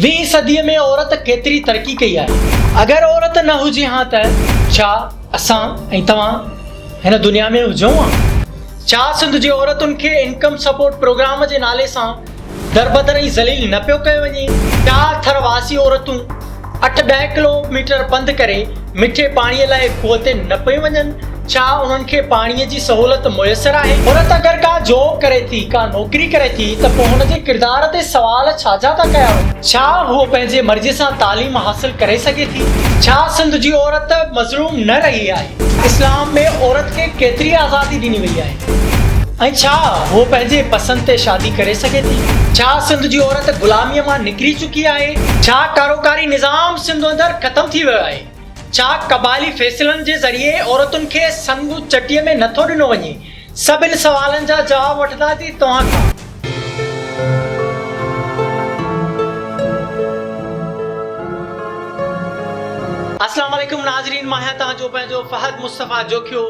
ويهين صديء ۾ عورت ڪيتري ترقي ڪئي آهي؟ اگر عورت نه هجي ها ته ڇا اسان ۽ توهان هن دنيا ۾ هجون ها؟ ڇا سنڌ جي عورتن کي انڪم سپورٽ پروگرام جي نالي سان دربدر ۽ ذليل نه پيو ڪيو وڃي؟ ڇا ٿر واسي عورتون اٺ ڏهه ڪلو ميٽر پنڌ ڪري مٺي پاڻي لاء کوهه تي نه پيون وڃن؟ ڇا انهن کي پاڻي جي سهولت ميسر آهي؟ عورت اگر ڪا جاب ڪري ٿي، ڪا نوڪري ڪري ٿي ته پوء هن جي ڪردار تي سوال ڇا جا ٿا ڪيا وڃن؟ ڇا هوء پنهنجي مرضي سان تعليم حاصل ڪري سگهي ٿي؟ ڇا سنڌ جي عورت مظلوم نه رهي آهي؟ اسلام ۾ عورت کي ڪيتري آزادي ڏني وئي آهي؟ ۽ ڇا هوء پنهنجي پسند تي شادي ڪري سگهي ٿي؟ ڇا سنڌ جي عورت غلاميء مان نڪري چڪي آهي؟ ڇا ڪاروڪاري نظام سنڌ اندر ختم ٿي ويو آهي؟ ڇا قبائلي فيصلن جي ذريعي عورتن کي سڱ چٽيء ۾ نه ٿو ڏنو وڃي؟ سڀن سوالن جا جواب وٺنداسين توهان کان. السلام عليڪم ناظرين مان آهيان توهان جو پنهنجو فهد مصطفيٰ جوکيو.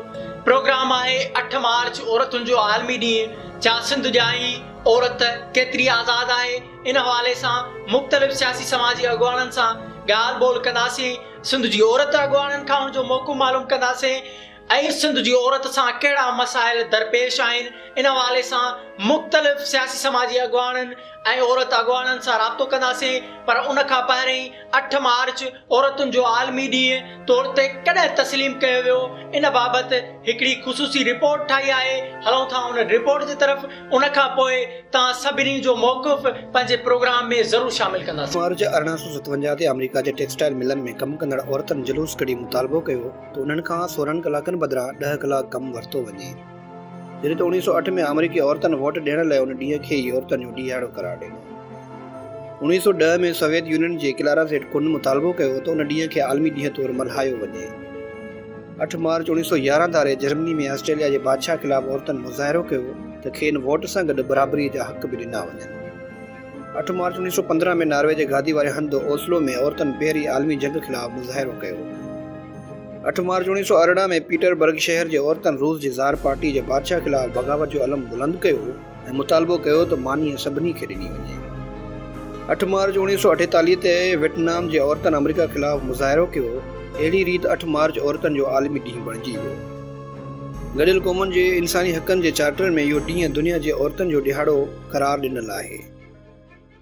پروگرام آهي اٺ مارچ عورتن جو عالمي ڏينهن، ڇا سنڌ جائي عورت ڪيتري آزاد آهي؟ ان حوالي سان مختلف سياسي سماجي اڳواڻن سان ڳالهه ٻولهه ڪنداسين، سنڌ جي عورت اڳواڻن کان ان جو موقف معلوم ڪنداسين ۽ سنڌ جي عورت سان ڪهڙا مسائل درپيش آهن ان حوالي سان مختلف سياسي سماجي اڳواڻن ۽ عورت اڳواڻن سان رابطو ڪنداسين پر ان کان پهرئين اٺ مارچ عورتن جو عالمي ڏينهن طور تي ڪڏهن تسليم ڪيو ويو ان بابت هڪڙي خصوصي رپورٽ ٺاهي آهي هلون ٿا ان رپورٽ جي طرف ان کان پوء توهان سڀني جو موقف پنهنجي پروگرام ۾ ضرور شامل ڪنداسين. مارچ ارڙهن سؤ ستونجاهه تي آمريڪا جي ٽيڪسٽائيل ملن ۾ ڪم ڪندڙ عورتن جلوس ڪڍي مطالبو ڪيو ته انهن کان سورهن ڪلاڪن بدران ڏهه ڪلاڪ ڪم ورتو وڃي. جڏهن ته اوڻيهه سؤ اٺ ۾ آمريڪي عورتن ووٽ ڏيڻ لاء ان ڏينهن کي ئي عورتن جو ڏيهاڙو قرار ڏنو. اوڻيهه سؤ ڏهه ۾ سويت يونين جي ڪلارا زيٽ ڪون مطالبو ڪيو ته ان ڏينهن کي عالمي ڏينهن طور ملهايو وڃي. اٺ مارچ اوڻيهه سؤ يارهن ڌاري جرمني ۾ آسٽريليا جي بادشاهه خلاف عورتن مظاهرو ڪيو ته کين ووٽ سان گڏ برابري جا حق به ڏنا وڃن. اٺ مارچ اوڻيهه سؤ پندرهن ۾ ناروي جي گادي واري هنڌ اوسلو ۾ عورتن پهرين عالمي جنگ خلاف مظاهرو ڪيو. اٺ مارچ اوڻيهه سؤ ارڙهن ۾ پيٽر برگ شهر جي عورتن روس جي زار پارٽي جي بادشاهه خلاف بغاوت جو علم بلند ڪيو ۽ مطالبو ڪيو ته مانيء سڀني کي ڏني وڃي. اٺ مارچ اوڻيهه سؤ اٺيتاليهه تي ويٽنام جي عورتن آمريڪا خلاف مظاهرو ڪيو، اهڙي ريت اٺ مارچ عورتن جو عالمي ڏينهن بڻجي ويو. گڏيل قومن جي انساني حقن جي چارٽر ۾ اهو ڏينهن دنيا جي عورتن جو ڏهاڙو قرار ڏنل آهي.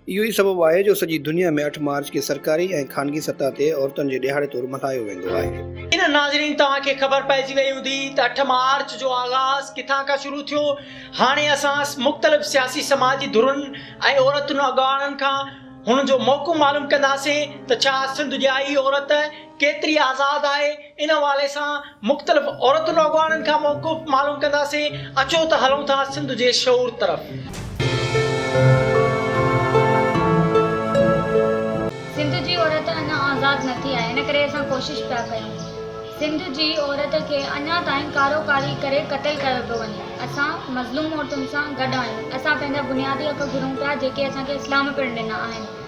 اهو ئي سبب آهي جو سڄي دنيا ۾ اٺ مارچ کي سرڪاري ۽ خانگي سطح تي عورتن جي ڏهاڙي طور ملهايو ويندو آهي. ان ناظرين توهان کي خبر پئجي وئي هوندي ته اٺ مارچ جو آغاز ڪٿان کان شروع ٿيو. هاڻي اسان مختلف سياسي سماجي ڌرن ۽ عورتن اڳواڻن کان هن جو موقعو معلوم ڪنداسين ته ڇا سنڌ جي آئي عورت ڪيتري آزاد آهي ان حوالي سان مختلف عورتن اڳواڻن کان موقف معلوم ڪنداسين اچو ته هلون ٿا سنڌ جي شعور طرف. سنڌ جي عورت اڃا آزاد نه ٿي آهي ان ڪري اسان ڪوشش پيا ڪيون سنڌ جي عورت کي اڃا تائين ڪارو ڪاري ڪري قتل ڪيو پيو وڃي اسان مظلوم عورتن سان گڏ آهيون اسان پنهنجا بنيادي حق گهرون پيا جيڪي اسان کي اسلام پڻ ڏنا آهن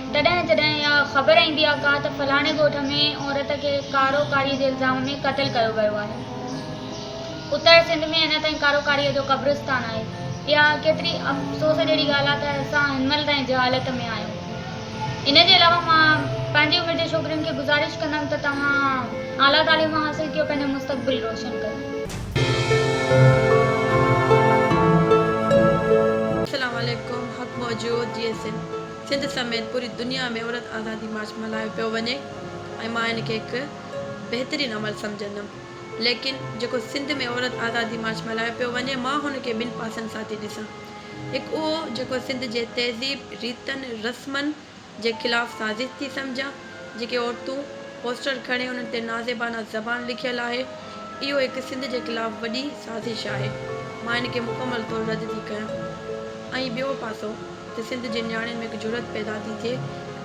تڏهن جڏهن اها خبر ايندي آهي ڪا ته فلاڻي ڳوٺ ۾ عورت کي ڪارو ڪاري جي الزام ۾ قتل ڪيو ويو آهي. اتر سنڌ ۾ اڃا تائين ڪارو ڪاري جو قبرستان آهي. اها ڪيتري افسوس جهڙي ڳالهه آهي ته اسان هن مهل تائين جهالت ۾ آهيون. ان جي علاوه مان پنهنجي عمر جي ڇوڪرين کي گذارش ڪندم ته توهان اعليٰ تعليم حاصل ڪيو پنهنجو مستقبل روشن ڪيو. اسلام عليڪم حق موجود جي سنڌ. سنڌ سميت پوري دنيا ۾ عورت آزادي مارچ ملهايو پيو وڃي ۽ مان ان کي هڪ بهترين عمل سمجهندم ليڪن جيڪو سنڌ ۾ عورت آزادي مارچ ملهايو پيو وڃي مان هن کي ٻن پاسن سان ٿي ڏسان هڪ اهو جيڪو سنڌ جي تهذيب ريتن رسمن جي خلاف سازش ٿي سمجهان جيڪي عورتون پوسٽر کڻي انهن تي نازيبانه زبان لکيل آهي اهو هڪ سنڌ جي خلاف وڏي سازش آهي مان ان کي مڪمل طور رد ٿي ڪيان ۽ ٻيو پاسو ته سنڌ جي نياڻين ۾ هڪ جرئت پيدا ٿي ٿئي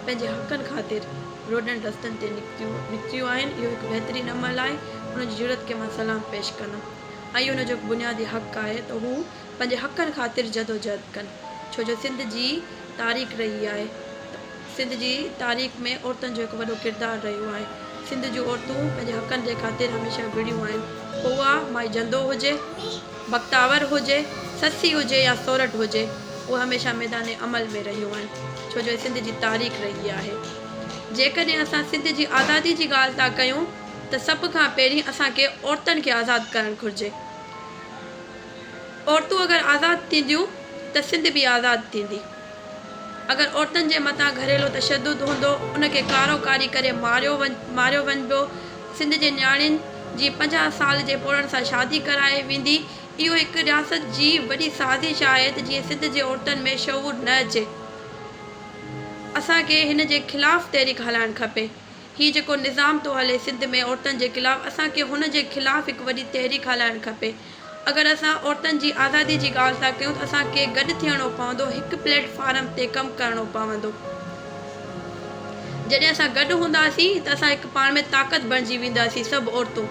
پنهنجي حقن خاطر روڊن رستن تي نڪتيون آهن اهو هڪ بهترين عمل آهي انهن جي جرئت کي مان سلام پيش ڪندم ۽ انهن جو هڪ بنيادي حق آهي ته هو پنهنجي حقن خاطر جدوجهد ڪن ڇو جو سنڌ جي تاريخ رهي آهي ته سنڌ جي تاريخ ۾ عورتن جو هڪ وڏو ڪردار رهيو آهي سنڌ جون عورتون پنهنجي حقن جي خاطر هميشه وڙهيون آهن پوء اها مائي جندو هجي. بختاور هجي، سسي هجي يا سورٺ هجي، اهي هميشه ميدان عمل ۾ رهيون آهن، ڇو جو هي سنڌ جي تاريخ رهي آهي. جيڪڏهن اسان سنڌ جي آزادي جي ڳالهه ٿا ڪيون ته سڀ کان پهرين اسان کي عورتن کي آزاد ڪرڻ گهرجي. عورتون اگر آزاد ٿينديون ته سنڌ به آزاد ٿيندي. اگر عورتن جي مٿان گهريلو تشدد هوندو ان کي ڪارو ڪاري ڪري ماريو ماريو وڃبو سنڌ جي نياڻين جي پنجاهه سال جي پوڙهن سان شادي ڪرائي ويندي اهو هڪ رياست جي وڏي سازش آهي ته جيئن سنڌ جي عورتن ۾ شعور نه اچي اسان کي هن جي خلاف تحريڪ هلائڻ کپي هي جيڪو نظام ٿو هلي سنڌ ۾ عورتن جي خلاف اسان کي هن جي خلاف هڪ وڏي تحريڪ هلائڻ کپي اگر اسان عورتن جي آزادي جي ڳالهه ٿا ڪيون ته اسان کي گڏ ٿيڻو پوندو، هڪ پليٽ فارم تي ڪم ڪرڻو پوندو. جڏهن اسان گڏ هونداسين ته اسان هڪ پاڻ ۾ طاقت بڻجي وينداسين سڀ عورتون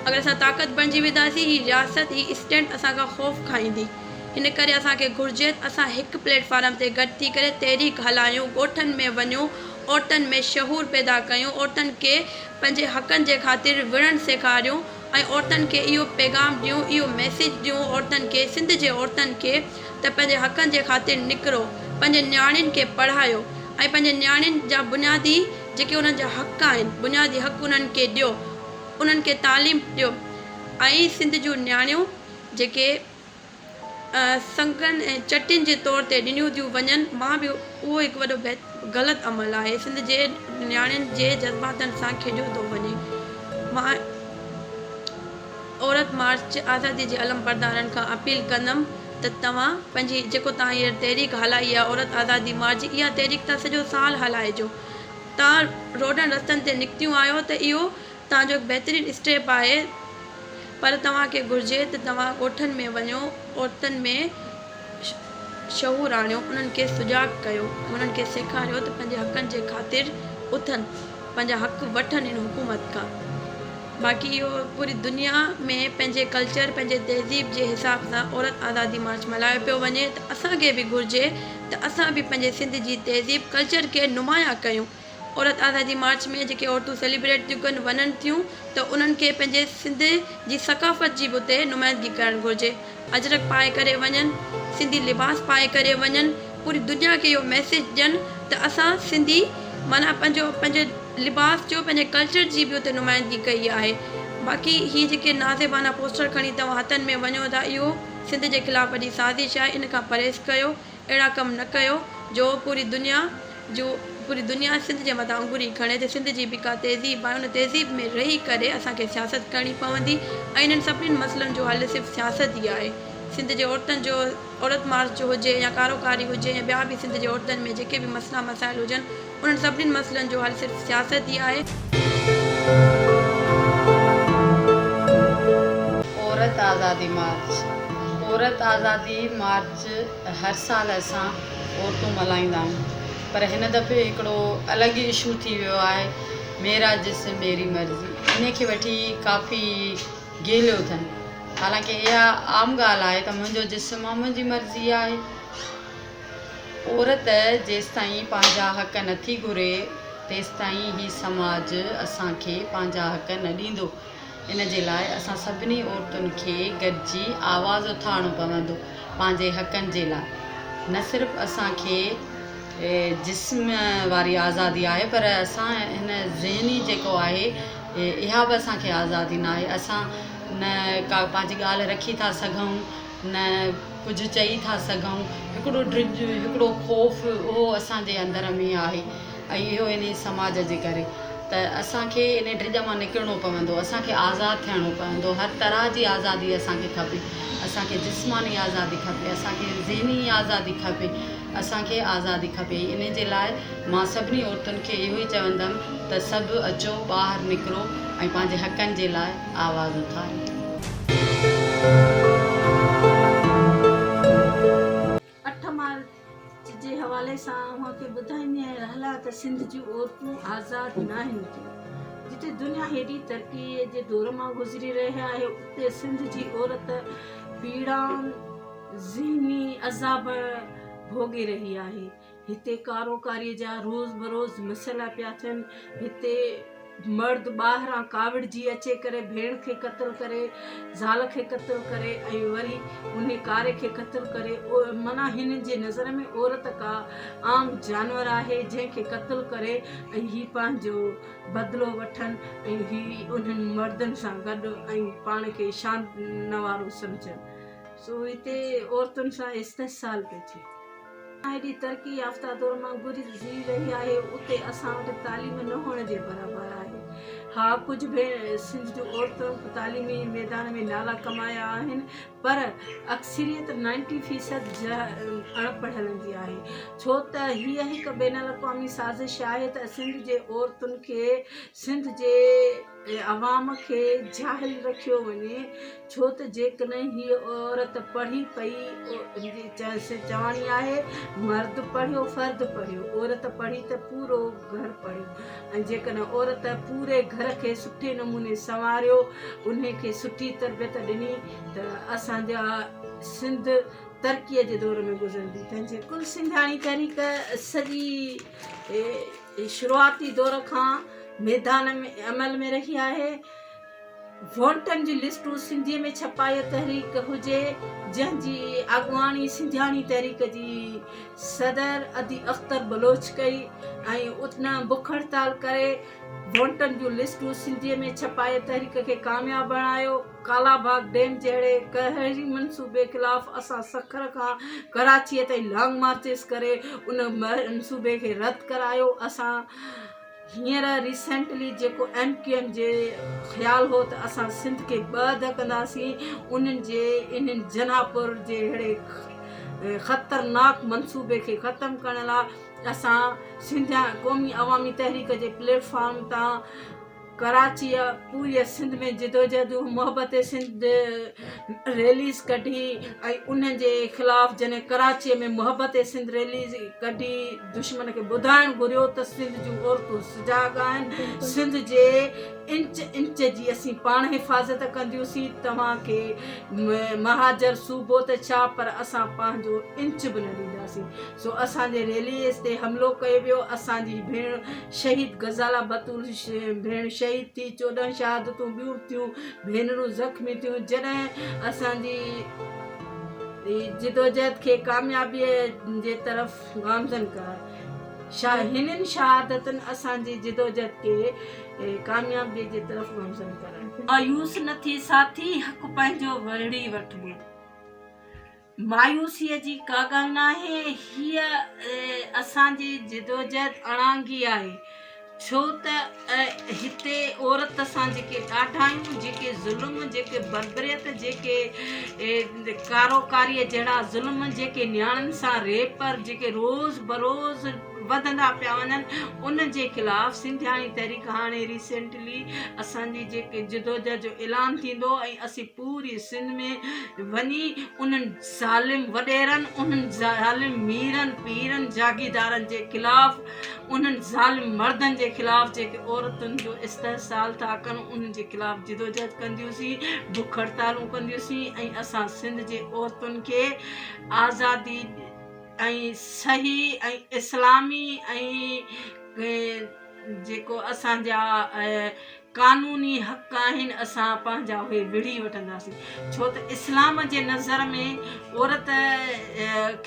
اگر اسان طاقت بڻجي وينداسين هي رياست هي اسٽينٽ اسان کان خوف کائيندي ان ڪري اسان کي گهرجي ته اسان هڪ پليٽ فارم تي گڏ ٿي ڪري تحريڪ هلايون ڳوٺن ۾ وڃون عورتن ۾ شعور پيدا ڪيون عورتن کي پنهنجي حقن جي خاطر وڙهڻ سيکاريون. ۽ عورتن کي اهو پيغام ڏيون اهو ميسيج ڏيون عورتن کي سنڌ جي عورتن کي ته پنهنجي حقن جي خاطر نڪرو پنهنجي نياڻين کي پڙهايو ۽ پنهنجي نياڻين جا بنيادي جيڪي انهن جا حق آهن بنيادي حق انهن کي ڏيو انهن کي تعليم ڏيو ۽ سنڌ جون نياڻيون جيڪي سنگن ۽ چٽين جي طور تي ڏنيون ٿيون وڃن مان به اهو هڪ وڏو غلط عمل آهي سنڌ جي نياڻين جي جذباتن سان کيڏيو ٿو وڃي مان عورت مارچ آزادي جي علمبردارن کان اپيل ڪندم ته توهان پنهنجي جيڪو توهان هينئر تحريڪ هلائي آهي عورت آزادي مارچ اها تحريڪ توهان سڄو سال هلائجو توهان روڊن رستن تي نڪتيون آهيو ته اهو توهان جو هڪ بهترين اسٽيپ آهي پر توهان کي گهرجي ته توهان ڳوٺن ۾ وڃو، عورتن ۾ شعور آڻيو، انهن کي سجاڳ ڪيو ۽ انهن کي سيکاريو ته پنهنجي حقن جي خاطر اٿن، پنهنجا حق وٺن هن حڪومت کان. باقي اهو پوري دنيا ۾ پنهنجي ڪلچر، پنهنجي تهذيب جي حساب سان عورت آزادي مارچ ملهايو پيو وڃي ته اسان کي به گهرجي ته اسان به پنهنجي سنڌ جي تهذيب، ڪلچر کي نمايان ڪيون. عورت آزادي مارچ ۾ جيڪي عورتون سيليبريٽ ٿيون ڪن وڃن ٿيون ته انهن کي پنهنجي سنڌ جي ثقافت جي به اتي نمائندگي ڪرڻ گهرجي اجرڪ پائي ڪري وڃن سنڌي لباس پائي ڪري وڃن پوري دنيا کي اهو ميسيج ڏين ته اسان سنڌي معنيٰ پنهنجو پنهنجي لباس جو پنهنجي ڪلچر جي به اتي نمائندگي ڪئي آهي باقي هي جيڪي نازيبانا پوسٽر کڻي توهان هٿن ۾ وڃو ٿا اهو سنڌ جي خلاف وڏي سازش آهي ان کان پرهيز ڪيو. اهڙا ڪم نه ڪيو جو پوري دنيا جو پوري دنيا سنڌ جي مٿان انڱري کڻي ته سنڌ جي به ڪا تهذيب آهي ان تهذيب ۾ رهي ڪري اسان کي سياست ڪرڻي پوندي ۽ انهن سڀني مسئلن جو حل صرف سياست ئي آهي سنڌ جي عورتن جو عورت مارچ جو هجي يا ڪارو ڪاري هجي يا ٻيا به سنڌ جي عورتن ۾ جيڪي به مسئلا مسائل هجن انهن سڀني مسئلن جو حل صرف سياست ئي آهي. عورت آزادي مارچ، عورت آزادي مارچ هر سال اسان عورتون ملهائيندا آهيون پر هن دفعي هڪڙو الڳ ئي اشو ٿي ويو آهي ميرا جسم ميري مرضي انهي کي وٺي ڪافي گيليو اٿن حالانڪه اها عام ڳالهه آهي ته منهنجو جسم آهي منهنجي مرضي آهي. عورت جيستائين پنهنجا حق نٿي گهري، تيستائين هي سماج اسان کي پنهنجا حق نه ڏيندو. ان جي لاء اسان سڀني عورتن کي گڏجي آواز اٿارڻو پوندو پنهنجي حقن جي لاء. نه صرف اسان کي جسم واري آزادي آهي پر اسان هن ذهني جيڪو آهي اها به اسان کي آزادي ناهي. اسان نه ڪا پنهنجي ڳالهه رکي ٿا سگهون. نه ڪجهه چئي ٿا سگهون، هڪڙو ڊڄ، هڪڙو خوف اهو اسان جي اندر ۾ آهي ۽ اهو انهي سماج جي ڪري ته اسان کي انهي ڊڄ مان نڪرڻو پوندو، اسان کي آزاد ٿيڻو پوندو، هر طرح جي آزادي اسان کي کپي، اسان کي جسماني آزادي کپي، اسان کي ذهني آزادي کپي، اسان کي آزادي کپي ۽ انهي جي لاء مان سڀني عورتن کي اهو ئي چوندم ته سڀ اچو ٻاهر نڪرو ۽ پنهنجي حقن جي لاء. آواز اٿاري ٿي. اٺ مارچ جي حوالي سان اوهان کي ٻڌائيندي آهيان رحلا ته سنڌ جون عورتون آزاد ناهن ٿيون. جتي دنيا هيڊي ترقي جي دور مان گذري رهي آهي اتي سنڌ جي عورت پيڙائن، ذهني عذابن ڀوڳي رهي آهي. هتي ڪاروڪاري جا روز بروز مسئلا پيا ٿين هتي مرد ٻاهران ڪاوڙجي اچي ڪري ڀيڻ کي قتل ڪري زال کي قتل ڪري ۽ وري انهي ڪاري کي قتل ڪري معنيٰ هنن جي نظر ۾ عورت ڪا عام جانور آهي جنهن کي قتل ڪري ۽ هي پنهنجو بدلو وٺن ۽ هي انهن مردن سان گڏ ۽ پاڻ کي شان نوارو سمجهن سو هتي عورتن سان استحصال پيو ٿئي ايڏي ترقي يافته دور مان گذري جي رهي آهي اتي اسان وٽ تعليم نه هئڻ جي برابر آهي ها ڪجهه به سنڌ جون عورتون تعليمي ميدان ۾ نالا ڪمايا آهن پر اڪثريت نائنٽي فيصد اڻ پڙهيل هوندي آهي ڇو ته هيء هڪ بين الاقوامي سازش آهي ته سنڌ جي عورتن کي سنڌ جي ۽ عوام کي جاهل رکيو وڃي ڇو ته جيڪڏهن هيء عورت پڙهي پئي چواڻي آهي مرد پڙهيو فرد پڙهيو عورت پڙهي ته پورو گهر پڙهيو ۽ جيڪڏهن عورت پوري گهر کي سٺي نموني سنواريو انهي کي سٺي تربيت ڏني ته اسان جا سنڌ ترقي جي دور ۾ گذرندي تنهن جي ڪل سنڌياڻي تحريڪ سڄي جي شروعاتي دور کان ميدان عمل ۾ رهي آهي، ووٽن جون لسٽون سنڌي ۾ ڇپائي تحريڪ هجي جنهن جي اڳواڻي سنڌياڻي تحريڪ جي صدر ادي اختر بلوچ ڪئي ۽ ان بک هڙتال ڪري ووٽن جون لسٽون سنڌي ۾ ڇپائي تحريڪ کي ڪامياب بڻايو. ڪالا باغ ڊيم جهڙي ڪهڙي منصوبي خلاف اسان سکر کان ڪراچي تائين لانگ مارچز ڪري ان منصوبي کي رد ڪرايو اسان هينئر ريسينٽلي جيڪو ايم ڪيو ايم جي خيال هو ته اسان سنڌ کي ٻه اڌ ڪنداسين انهن جي انهن جناح پور جي اهڙي خطرناڪ منصوبي کي ختم ڪرڻ لاء اسان سنڌيان قومي عوامي تحريڪ جي پليٽ فارم تان ڪراچيء پوريء سنڌ ۾ جدوجهدون محبت سنڌ ريليز ڪڍي ۽ ان جي خلاف جنھن ڪراچيء ۾ محبت سنڌ ريليز ڪڍي دشمن کي ٻڌائڻ گهريو ته سنڌ جون عورتون سجاڳ آهن سنڌ جي انچ انچ جي اسين پاڻ حفاظت ڪنديونسين توهان کي مهاجر صوبو ته ڇا پر اسان پنهنجو انچ به نه ڏينداسين سو اسان جي ريليز تي حملو ڪيو ويو اسان جي ڀيڻ شهيد غزالا بتول ڀيڻ شهيد ٿي چوڏهن شهادتون ٻيون به ٿيون ڀينرون زخمي ٿيون جڏهن اسان جي جدوجهد کي ڪاميابي جي طرف گامزن ڪرڻ شاهي هنن شهادتن اسان جي جدوجهد کي ڪاميابي جي طرف گامزن ڪرڻ مايوس نه ٿي ساٿي حق پنهنجو وڙهي وٺبو. مايوسيء جي ڪا ڳالهه ناهي. هيء اسان جي جدوجهد اڻانگي آهي، ڇو ته هتي عورت سان جيڪي ڏاڍايون، جيڪي ظلم، جيڪي بربريت، جيڪي ڪارو ڪاريء جهڙا ظلم، جيڪي نياڻين سان ريپ، جيڪي روز بروز وڌندا پيا وڃن، ان جي خلاف سنڌياڻي تحريڪ هاڻي ريسينٽ، لي اسان جي جيڪي جدوجهد جو اعلان ٿيندو ۽ اسين پوري سنڌ ۾ وڃي انهن ظالم وڏيرن انهن ظالم ميرن پيرن جاگيدارن جي خلاف انهن ظالم مردن جي خلاف جيڪي عورتن جو استحصال ٿا ڪن انهن جي خلاف جدوجهد ڪنديونسين بک هڙتالون ڪنديونسين ۽ اسان سنڌ جي عورتن کي آزادي ۽ صحيح ۽ اسلامي ۽ جيڪو اسان جا قانوني حق آهن اسان پنهنجا اهي وڙهي وٺنداسين ڇو ته اسلام جي نظر ۾ عورت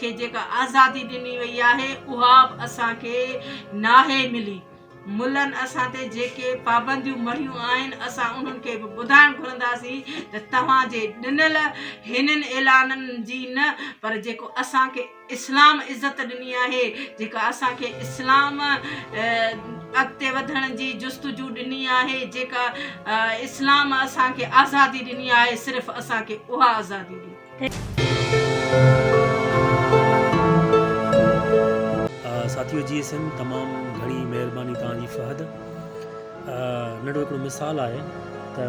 کي جيڪا آزادي ڏني وئي آهي اها به اسان کي ناهي ملي ملن اسان تي جيڪي پابنديون مڙهيون آهن اسان انهن کي به ٻڌائڻ گهرنداسين ته توهان جي ڏنل هنن اعلانن جي نه پر جيڪو اسان کي اسلام عزت ڏني آهي جيڪا اسان کي اسلام اڳتي وڌڻ جي جستجو ڏني آهي جيڪا اسلام اسان کي آزادي ڏني آهي صرف اسان کي اها آزادي ڏي. ساٿيو جي ايس ايم تمام گھڻي مھرباني توھان جي فھد ننڍو ھڪڙو مثال آھي ته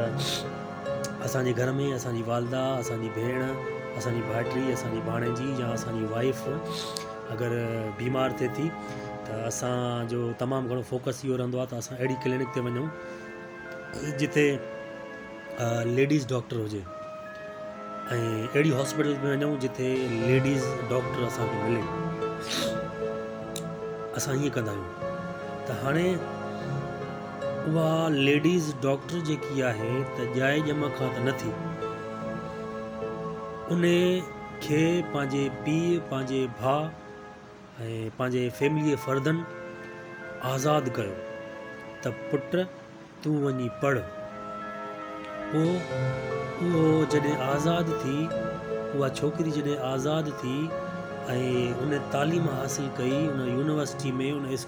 اسان جي گهر ۾ اسان جي والده، اسان جي ڀيڻ، اسان جي ڀائٽي، اسان جي ڀاڻيجي يا اسان جي وائيف اگر بيمار ٿئي ٿي ته اسان جو تمام گهڻو فوڪس اهو رهندو آهي ته اسان اهڙي ڪلينڪ تي وڃون جتي ليڊيز ڊاڪٽر هجي ۽ اهڙي هاسپيٽل ۾ وڃون جتي ليڊيز ڊاڪٽر اسانکي ملي اسان ائين ڪندا آهيون ته هاڻي اها ليڊيز ڊاڪٽر جيڪي آهي ته ڄائي ڄم کان ته نه ٿي. انهي کي پنهنجي پيء، پنهنجي ڀاء ۽ پنهنجي فيمليء فردن آزاد ڪيو ته پٽ تون وڃي پڙهه. پوء اهو جڏهن آزاد ٿي، اها ڇوڪري جڏهن آزاد ٿي ۽ ان تعليم حاصل ڪئي، ان يونيورسٽي ۾ ان اسڪول.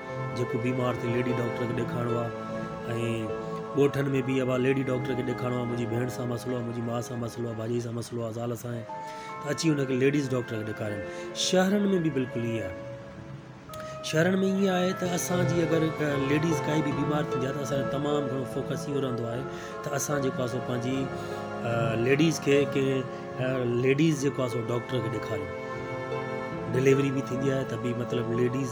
جيڪو بيمار ٿي ليڊي ڊاڪٽر کي ڏيکارڻو آ ۽ ڳوٺن ۾ به اها وات ليڊي ڊاڪٽر کي ڏيکارڻو آ منهنجي ڀيڻ سان مسئلو آ منهنجي ماء سان مسئلو آ ڀاڄائي سان مسئلو آ زال سان ته اچي ان کي ليڊيز ڊاڪٽر کي ڏيکارين شهرن ۾ به بلڪل ائين آهي شهرن ۾ ائين آهي ته اسان جي اگر ليڊيز ڪائي به بيمار ٿيندي آهي ته اسان جو تمام گهڻو فوڪس اهو رهندو آهي ته اسان جيڪو آهي سو پنهنجي ليڊيز کي ڪنهن ليڊيز جيڪو آهي سو ڊاڪٽر کي ڏيکاريون ڊليوري به ٿيندي آهي ته به مطلب ليڊيز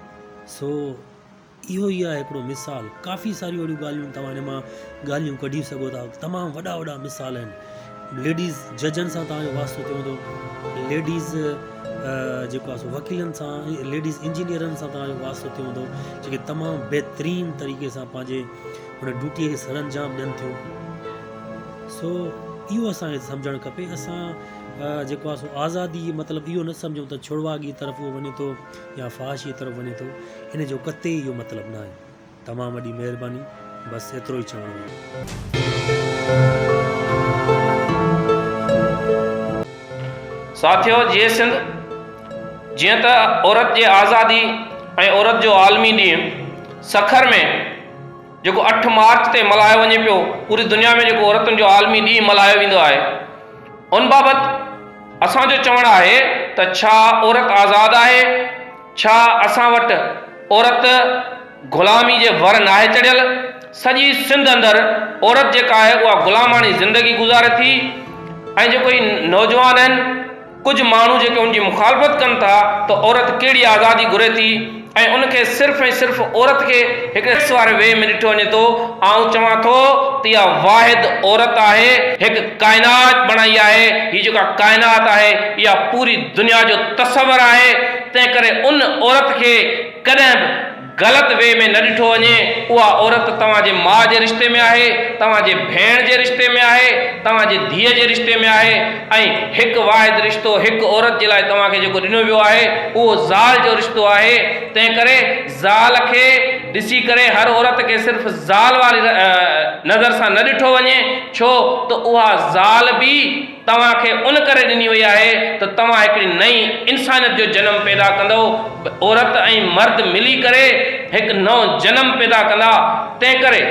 سو اهو ئي آهي هڪڙو مثال ڪافي ساريون اهڙيون ڳالهيون توهان ان مان ڳالهيون ڪڍي سگهو ٿا تمام وڏا وڏا مثال آهن ليڊيز ججن سان توهان جو واسطو ٿيو هوندو ليڊيز جيڪو آهي سو وڪيلن سان ليڊيز انجنيئرن سان توهان جو واسطو ٿيو هوندو جيڪي تمام بهترين طريقي سان پنهنجي هن ڊيوٽي کي سر انجام ڏين ٿيون سو اهو اسانکي سمجھڻ کپي اسان جيڪو آهي سو آزادي مطلب اهو نه سمجھون ته ڇڙواڳي طرف اهو وڃي ٿو يا فحاشيء طرف وڃي ٿو ان جو قطعي اهو مطلب ناهي. تمام وڏي مهرباني بس ايترو ئي چوڻو هو. ساٿيو جيئي سنڌ جيئن ته عورت جي آزادي ۽ عورت جو عالمي ڏينهن سکر ۾ جيڪو اٺ مارچ تي ملهايو وڃي پيو پوري دنيا ۾ جيڪو عورتن جو عالمي ڏينهن ملهايو ويندو آهي ان بابت اسان جو چوڻ آهي ته ڇا عورت آزاد آهي؟ ڇا اسان وٽ عورت غلامي جي ور ناهي چڙهيل؟ سڄي سنڌ اندر عورت جيڪا آهي اها غلاماڻي زندگي گذاري ٿي ۽ جيڪو هي نوجوان آهن ڪجهه ماڻهو جيڪي ان جي مخالفت ڪن ٿا ته عورت ڪهڙي آزادي گهري ٿي؟ ۽ ان کي صرف ۽ صرف عورت کي هڪڙي سيڪس واري وي ۾ ڏٺو وڃي ٿو، آئون چوان ٿو ته اها واحد عورت آهي، هڪ ڪائنات بڻائي آهي، هي جيڪا ڪائنات آهي اها پوري دنيا جو تصور آهي، تنهن ڪري ان عورت کي ڪڏهن به غلط وي ۾ نه ڏٺو وڃي، اها عورت توهان جي ماء جي رشتي ۾ آهي، توهان جي ڀيڻ جي رشتي ۾ آهي، توهان جي ڌيء جي رشتي ۾ آهي. ۽ هڪ واحد رشتو هڪ عورت جي لاء توهان کي جيڪو ڏنو ويو آهي اهو زال جو رشتو آهي تنهن ڪري زال کي ڏسي ڪري هر عورت کي صرف زال واري نظر سان نه ڏٺو وڃي ڇو ته اها زال به توهان کي ان ڪري ڏني وئي آهي ته توهان هڪڙي نئين انسانيت جو جنم پيدا ڪندؤ عورت ۽ مرد ملي ڪري هڪ نئون جنم پيدا ڪندا تنهن ڪري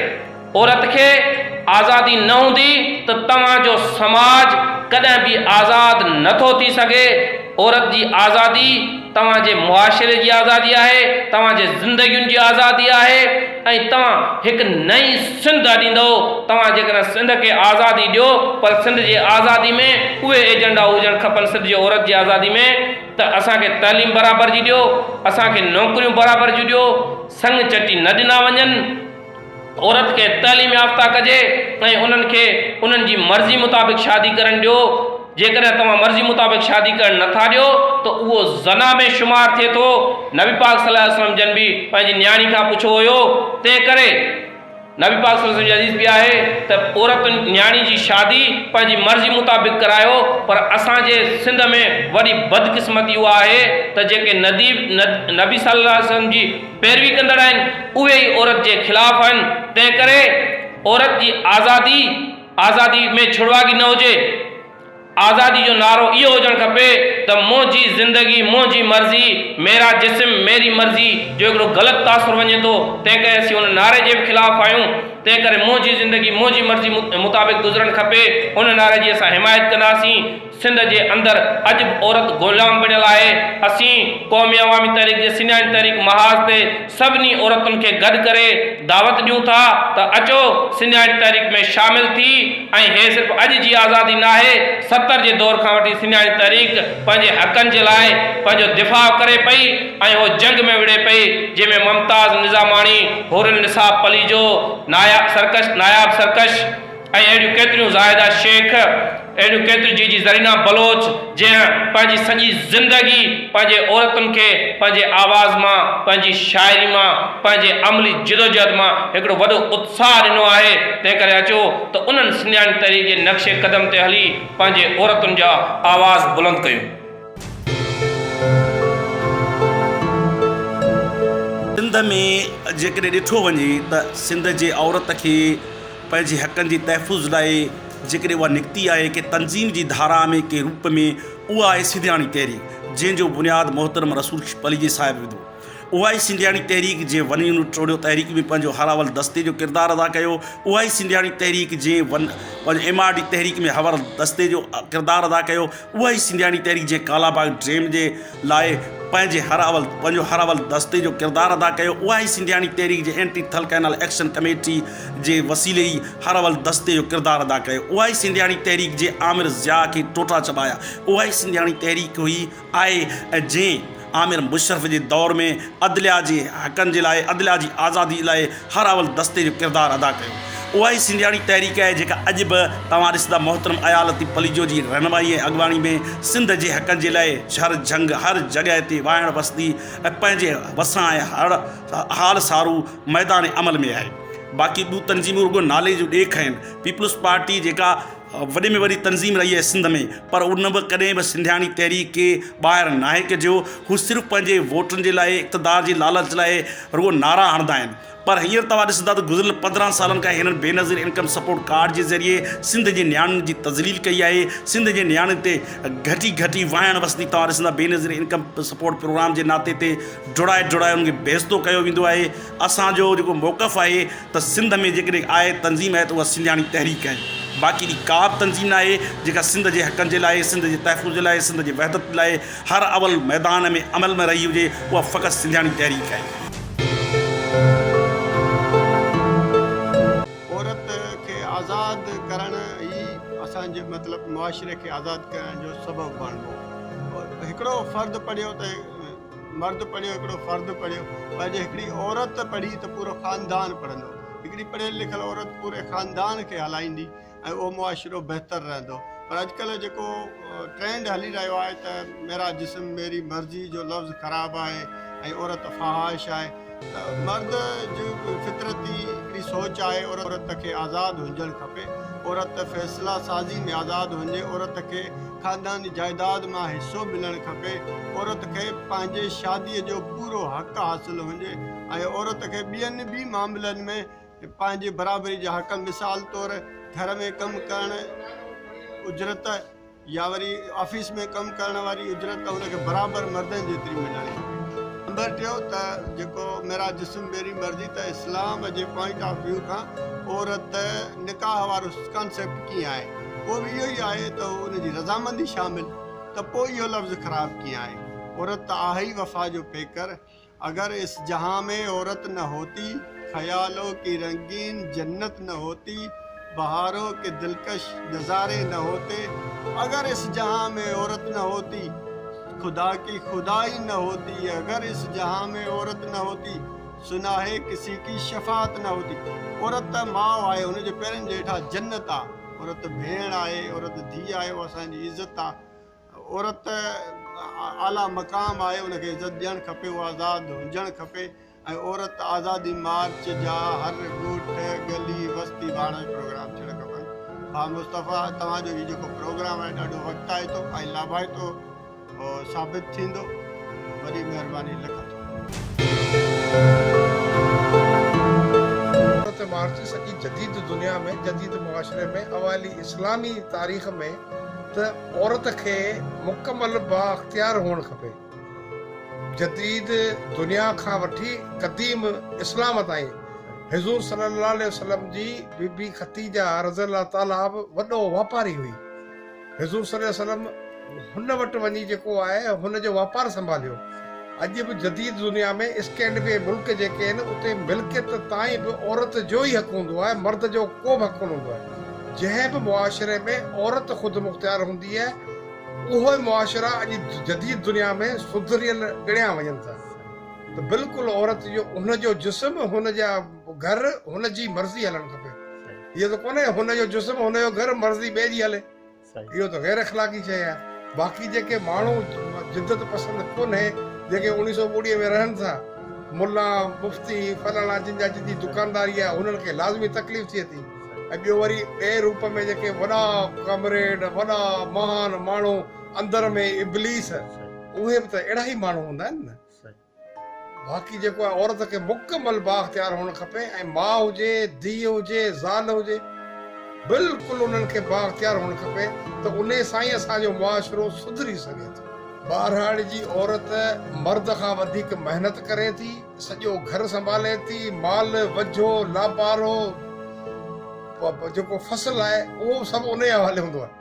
عورت کي آزادي نه هوندي ته توهان جو سماج ڪڏهن به آزاد نه ٿو ٿي سگهي. عورت جي آزادي توهان جي معاشري جي آزادي آهي، توهان جي زندگين جي آزادي آهي ۽ توهان هڪ نئين سنڌ اڏيندؤ. توهان جيڪڏهن سنڌ کي آزادي ڏيو پر سنڌ جي آزادي ۾ اهي ايجنڊا هجڻ کپن سنڌ جي عورت جي آزادي ۾ ته اسان کي تعليم برابر جي ڏيو، اسان کي نوڪريون برابر جون ڏيو، سڱ چٽي نه ڏنا وڃن. عورت کي تعليم يافته ڪجي ۽ انهن کي انهن جي مرضي مطابق شادي ڪرڻ ڏيو، جيڪڏهن توهان مرضي مطابق شادي ڪرڻ نه ٿا ڏيو ته اهو زنا ۾ شمار ٿئي ٿو، نبي پاڪ صلي الله عليه وسلم جن به پنهنجي نياڻي کان پڇو هيو تنهنڪري نبي پاڪ صلي الله عليه وسلم جي حديث به آهي ته عورت نياڻي جي شادي پنهنجي مرضي مطابق ڪرايو پر اسان جي سنڌ ۾ وڏي بدقسمتي اها آهي ته جيڪي ندي نبي صلي الله عليه وسلم جي پيروي ڪندڙ آهن اهي ئي عورت جي خلاف آهن تنهن ڪري عورت جي آزادي آزادي ۾ ڇڙواڳي نه هجي آزادي جو نعرو اهو هجڻ کپي ته منهنجي زندگي منهنجي مرضي ميرا جسم ميري مرضي جو هڪڙو غلط تاثر وڃي ٿو تنهن ڪري اسين ان نعري جي به خلاف آهيون تنهن ڪري منهنجي زندگي منهنجي مرضي مطابق گذرڻ کپي ان نعري جي اسان حمايت ڪنداسين. سنڌ جي اندر اڄ به عورت غلام بڻيل آهي، اسين قومي عوامي تحريڪ جي سڃاڻي تحريڪ محاذ تي سڀني عورتن کي گڏ ڪري دعوت ڏيون ٿا ته اچو سڃاڻي تحريڪ ۾ شامل ٿي ۽ هي صرف اڄ جي آزادي ناهي ستر جي دور کان وٺي سڃاڻي تحريڪ پنهنجي حقن جي لاء پنهنجو دفاع ڪري پئي ۽ هو جنگ ۾ وڙهي پئي جنهن ۾ ممتاز نظاماڻي حورالنساء پليجو ناياب سرڪش ناياب سرڪش ۽ اهڙيون ڪيتريون زاهده شيخ، اهڙيون ڪيتريون جي جي زرينه بلوچ جنهن پنهنجي سڄي زندگي پنهنجي عورتن کي پنهنجي آواز مان، پنهنجي شاعري مان، پنهنجي عملي جدوجهد مان هڪڙو وڏو اتساهه ڏنو آهي، تنهن ڪري اچو ته انهن سنڌياڻي تحريڪ جي نقش قدم تي هلي پنهنجي عورتن جا آواز بلند ڪيون. سنڌ ۾ جيڪڏهن ڏٺو وڃي ته سنڌ جي عورت کي پنهنجي حقن جي تحفظ لاء جيڪڏهن اها نڪتي آهي ڪنهن تنظيم جي ڌارا ۾ ڪنهن روپ ۾ اها آهي سنڌياڻي تحريڪ جنهن جو بنياد محترم رسول پليجي صاحب وڌو اها ئي سنڌياڻي تحريڪ جنهن ون يونٽ ٽوڙيو تحريڪ ۾ پنهنجو هاراول دستي جو ڪردار ادا ڪيو اها ئي سنڌياڻي تحريڪ جنهن ون پنهنجو ايم آر ڊي تحريڪ ۾ هاراول دستي جو ڪردار ادا ڪيو اها ئي سنڌياڻي تحريڪ جنهن ڪالاباغ ڊيم جي لاء پنهنجي هر اول پنهنجو هر اول دستي جو ڪردار ادا ڪيو اها ئي سنڌياڻي تحريڪ جي anti Thal canal action committee جي وسيلي ئي هر اول دستي جو ڪردار ادا ڪيو اها ئي سنڌياڻي تحريڪ جي آمر ضياء کي ٽوٽا چٻايا اها ئي سنڌياڻي تحريڪ هئي آهي ۽ جنهن آمر مشرف جي دور ۾ عدليا جي حقن جي لاء عدليا جي آزادي لاء هر اول دستي جو ڪردار ادا ڪيو. اها ئي سنڌياڻي تحريڪ آهي جيڪا اڄ به توهان ڏسندا محترم ايا لطيف پليجو جي رهنمائي ۽ اڳواڻي ۾ سنڌ جي حقن جي لاء شھر جھنگ هر جڳهه تي واهڻ وسندي ۽ پنهنجي وسان ۽ هڙ حال سارو ميدان عمل ۾ آهي باقي ٻيون تنظيمون رڳو نالي جون ڏيک آهن پيپلز پارٽي جيڪا وڏي ۾ وڏي تنظيم رهي آهي سنڌ ۾ پر ان به ڪڏهن به سنڌياڻي تحريڪ کي ٻاهر ناهي ڪڍيو هو صرف پنهنجي ووٽن جي لاء اقتدار جي لالچ لاء رڳو نعرا هڻدا آهن پر هينئر توهان ڏسندا ته گذريل پندرهن سالن کان هنن بينظير انڪم سپورٽ ڪارڊ جي ذريعي سنڌ جي نياڻين جي تذليل ڪئي آهي سنڌ جي نياڻين تي گهٽي گهٽي وهائڻ وسندي توهان ڏسندا بينظير انڪم سپورٽ پروگرام جي ناتي تي ڊوڙائي ڊوڙائي انهن کي بيعزتو ڪيو ويندو آهي اسان جو جيڪو موقف آهي ته سنڌ ۾ جيڪڏهن آء تنظيم آهي ته اها سنڌياڻي تحريڪ آهي باقي اهڙي ڪا به تنظيم نه آهي جيڪا سنڌ جي حقن جي لاء سنڌ جي تحفظ جي لاء سنڌ جي وحدت لاء هر اول ميدان ۾ عمل ۾ رهي هجي اها فقط سنڌياڻي تحريڪ آهي. عورت کي آزاد ڪرڻ ئي اسان جي مطلب معاشري کي آزاد ڪرڻ جو سبب بڻبو هڪڙو فرد پڙهيو ته مرد پڙهيو، هڪڙو فرد پڙهيو پر جي هڪڙي عورت پڙهي ته پورو خاندان پڙهندو. هڪڙي پڙهيل لکيل عورت پوري خاندان کي هلائيندي ۽ اهو معاشرو بهتر رهندو پر اڄڪلهه جيڪو ٽرينڊ هلي رهيو آهي ته ميرا جسم ميري مرضي جو لفظ خراب آهي ۽ عورت فحاش آهي. ته مرد جي فطرتي هڪڙي سوچ آهي عورت کي آزاد هجڻ کپي، عورت فيصلا سازي ۾ آزاد هجي، عورت کي خانداني جائيداد مان حصو ملڻ کپي، عورت کي پنهنجي شادي جو پورو حق حاصل هجي ۽ عورت کي ٻين به معاملن ۾ پنهنجي برابري جا حق مثال طور گهر ۾ ڪم ڪرڻ، اجرت. يا وري آفيس ۾ ڪم ڪرڻ واري اجرت ته ان کي برابر مردن جيتري ملڻ گهرجي. نمبر ٽيون ته جيڪو ميرا جسم ميري مرضي ته اسلام جي پوائنٽ آف ويو کان عورت نڪاح وارو ڪانسيپٽ ڪيئن آهي اهو به اهو ئي آهي ته ان جي رضامندي شامل ته پوء اهو لفظ خراب ڪيئن آهي عورت ته آهي ئي وفا جو پيڪر اگر اس جهان مين عورت نه هوتي خيالو ڪي رنگين جنت نه هوتي بهارو ڪي دلڪش نظاري نه هوتي اگر اس جهان مين عورت نه هوتي خدا ڪي خدائي نه هوتي اگر اس جهان مين عورت نه هوتي سناهي ڪسي ڪي شفاعت نه هوتي عورت ته ماء آهي ان جي پيرن جي هيٺان جنت آهي عورت ڀيڻ آهي عورت ڌي آهي اها اسان جي عزت آهي عورت ته اعليٰ مقام آهي ان کي عزت ڏيڻ کپي هو آزاد هجڻ کپي ۽ عورت آزادي مارچ جا هر ڳوٺ ڳلي وستي ڀاڻو جي پروگرام ٿيڻ کپن ڀا مصطفيٰ توهان جو هي جيڪو پروگرام آهي ڏاڍو وقتائتو ۽ لاڀائتو ثابت ٿيندو وڏي مهرباني لک عورت مارچ سڄي جديد دنيا ۾ جديد معاشري ۾ اوائلي اسلامي تاريخ ۾ ته عورت کي مڪمل بااختيار هئڻ کپي. جديد دنيا کان وٺي قديم اسلام تائين حضور صلي الله عليه وسلم جي بي بي ختيجه رضي الله تعالٰي به وڏو واپاري هئي. حضور صلي الله عليه وسلم هن وٽ وڃي جيڪو آهي هن جو واپار سنڀاليو. اڄ به جديد دنيا ۾ اسڪينڊيوي ملڪ جيڪي آهن اتي ملڪيت تائين به عورت جو ئي حق هوندو آهي مرد جو ڪو به حق ڪونه هوندو آهي جنهن به معاشري ۾ عورت خود مختيار هوندي آهي اهو ئي معاشرا اڄ جديد دنيا ۾ سڌريل ڳڻيا وڃن ٿا ته بلڪل عورت جو هن جو جسم هن جا گهر هن جي مرضي هلڻ کپي اهو ته ڪونهي هن جو جسم هن جو گهر مرضي ٻئي جي هلي. اهو ته غير اخلاقي شيء آهي. باقي جيڪي ماڻهو جدت پسند ڪونهي، جيڪي اڻيهه سؤ ٻوڙي ۾ رهن ٿا، ملا، مفتي، فلاڻا جن جا جدي دڪانداري آهي، انهن کي لازمي تڪليف ٿئي ٿي ۽ ٻيو وري ٻئي روپ ۾ جيڪي وڏا ڪامريڊ، وڏا مهان ماڻهو اندر ۾ ابليس، اهي به ته اهڙا ئي ماڻهو هوندا آهن نه. باقي جيڪو آهي عورت کي مڪمل بااختيار هئڻ کپي ۽ ماء هجي، ڌيء هجي، زال هجي بلڪل انهن کي بااختيار هئڻ کپي ته انهي سان ئي اسان جو معاشرو سڌري سگهي ٿو. ٻهراڙي جي عورت مرد کان وڌيڪ محنت ڪري ٿي، سڄو گهر سنڀالي ٿي، مال، وجهو، لاپارو، جيڪو فصل آهي اهو به سڀ انهي حوالي هوندو آهي.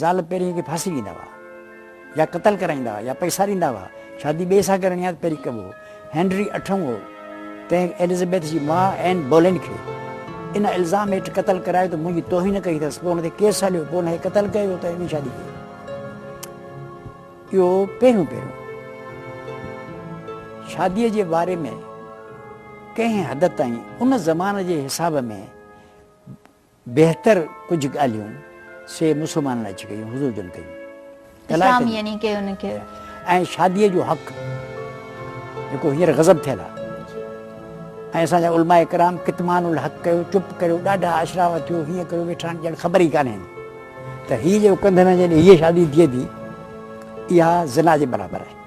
زال پهرين کي ڦاسي ڏيندا هئا يا قتل ڪرائيندا هئا يا پئسا ڏيندا هئا. شادي ٻئي سان ڪرڻي ها ته پهرين ڪبو هو. هينري اٺون هو تنهن ايلزبيٿ جي ماء اين بولين کي ان الزام هيٺ قتل ڪرايو ته منهنجي توهين ڪئي اٿس. پوء هن تي ڪيس هليو. پوء هن کي قتل ڪيو ويو ته ٻي شادي ڪئي. اهو پهريون پهريون شاديء جي باري ۾ ڪنهن حد تائين ان زمان جي حساب ۾ بهتر ڪجهه ڳالهيون سي مسلمانن اچي ڪيون، حضور جن ڪيون. اسلام يعني ڪي ان کي. ۽ شاديء جو حق جيڪو هينئر غضب ٿيل آ ۽ اسان جا علماء ڪرام ڪتمان الحق ڪيو، چپ ڪريو، ڏاڍا اشراف ٿيو، هيئن ڪيو ويٺا آهن ڄڻ خبر ئي ڪانهين ته هيء جيڪو ڪنڌ ۾ جڏهن هيء شادي ٿئي ٿي اها زنا جي برابر آهي.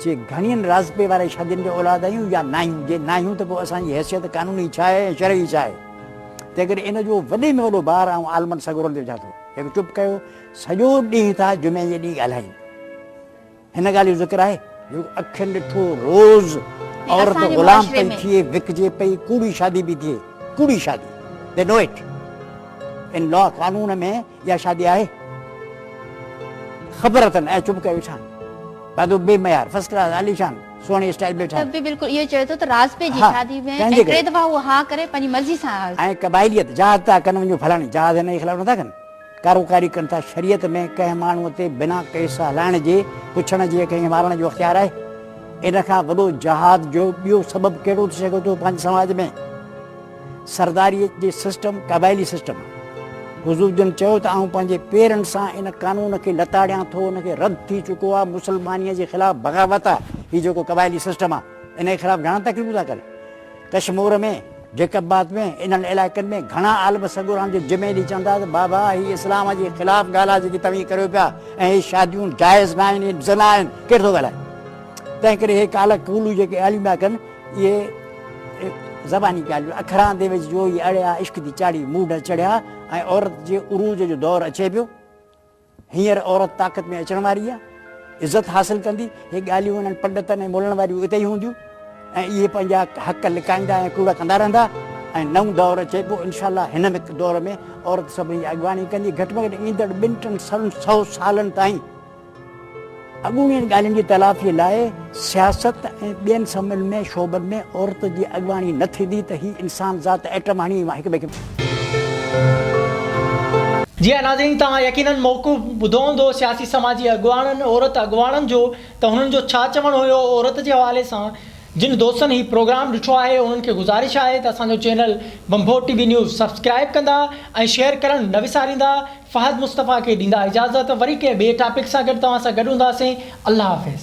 چي گهڻين رازپي واري شادين جا اولاد آهيون يا ناهيون؟ جي ناهيون ته پوء اسان جي حيثيت قانوني ڇا آهي ۽ شرعي ڇا آهي؟ تنهنڪري ان جو وڏي ۾ وڏو بار آئون عالمن سڳورن تي وجهان ٿو. هڪ چپ ڪيو. سڄو ڏينهن ٿا جمعي جي ڏينهن ڳالهائين. هن ڳالهه جو ذڪر آهي؟ جيڪو اکين ڏٺو روز عورت غلام پئي ٿئي، وڪجي پئي، ڪوڙي شادي پئي ٿئي. ڪوڙي شادي. They know it. ان لا قانون ۾ اها شادي آهي؟ خبر اٿن ۽ چپ ڪيو ويٺا آهن. پادو بي معيار، فرسٽ ڪلاس، عاليشان، سهڻي اسٽائيل ۾ ٺهيل. ته به بلڪل اهو ئي چوي ٿو ته راز پئي جي شادي ۾ ۽ ٽي دفعا هو ها ڪري پنهنجي مرضي سان آيو. ۽ قبائليت، جهاد ٿا ڪن وڃو ڦلاڻي جهاد هن جي خلاف نٿا ڪن. ڪاروڪاري ڪن ٿا شريعت ۾ ڪنهن ماڻهو تي بنا ڪيس هلائڻ جي، پڇڻ جي يا ڪنهن کي مارڻ جو اختيار آهي؟ ان کان وڏو جهاد جو ٻيو سبب ڪهڙو ٿي سگهي ٿو پنهنجي سماج ۾؟ سرداريء جي سسٽم قبائلي سسٽم آهي. حضور جن چيو ته آئون پنهنجي پيرن سان ان قانون کي لتاڙيان ٿو، ان کي رد ٿي چڪو آهي، مسلمانيء جي خلاف بغاوت آهي هي جيڪو قبائلي سسٽم آهي ان جي خلاف گهڻا تقريبون ٿا ڪن ڪشمور ۾ جيڪب آباد ۾ انهن علائقن ۾ گهڻا عالم سڳوران جو جمعي ڏينهن چون ٿا ته بابا هي اسلام جي خلاف ڳالهه آهي جيڪي توهين ڪريو پيا ۽ هي شاديون جائز ناهن هي زنا آهن ڪير ٿو ڳالهائي تنهن ڪري هي ڪالا ڪولهو جيڪي عليما ڪن اهي زباني ڳالهيون اکران دي وچ جوئي اڙيا، عشق دي چاڙهي موڍ چڙهيا ۽ عورت جي عروج جو دور اچي پيو. هينئر عورت طاقت ۾ اچڻ واري آ، عزت حاصل ڪندي. هي ڳالهيون انهن پنڊتن ۽ مولن واريون اتي ئي هونديون ۽ اهي پنهنجا حق لڪائيندا ۽ ڪوڙ ڪندا رهندا ۽ نئون دور اچي پيو. انشاء الله هن دور ۾ عورت سڀني جي اڳواڻي ڪندي. گهٽ ۾ گهٽ ايندڙ ٻن ٽن سون سئو سالن تائين. اڳوڻين ڳالهين جي تلافي لاء سياست ۽ ٻين سمن ۾ شعبن ۾ عورت جي اڳواڻي نه ٿيندي ته هي انسان ذات ايٽم هڻي هڪ ٻئي کي. جي ها ناظرين توهان يقينن موقف ٻڌو هوندو سياسي سماجي اڳواڻن عورت اڳواڻن جو ته هنن جو ڇا چوڻ هيو عورت جي حوالي سان جن دوستن هي پروگرام ڏٺو آهي انهن کي گذارش آهي ته اسان جو channel Bhambhor T V news subscribe ڪندا ۽ شيئر ڪرڻ نه وساريندا فهد مصطفيٰ کي ڏيندا اجازت وري ڪنهن ٻئي ٽاپڪ سان گڏ توهان سان گڏ هونداسين الله حافظ.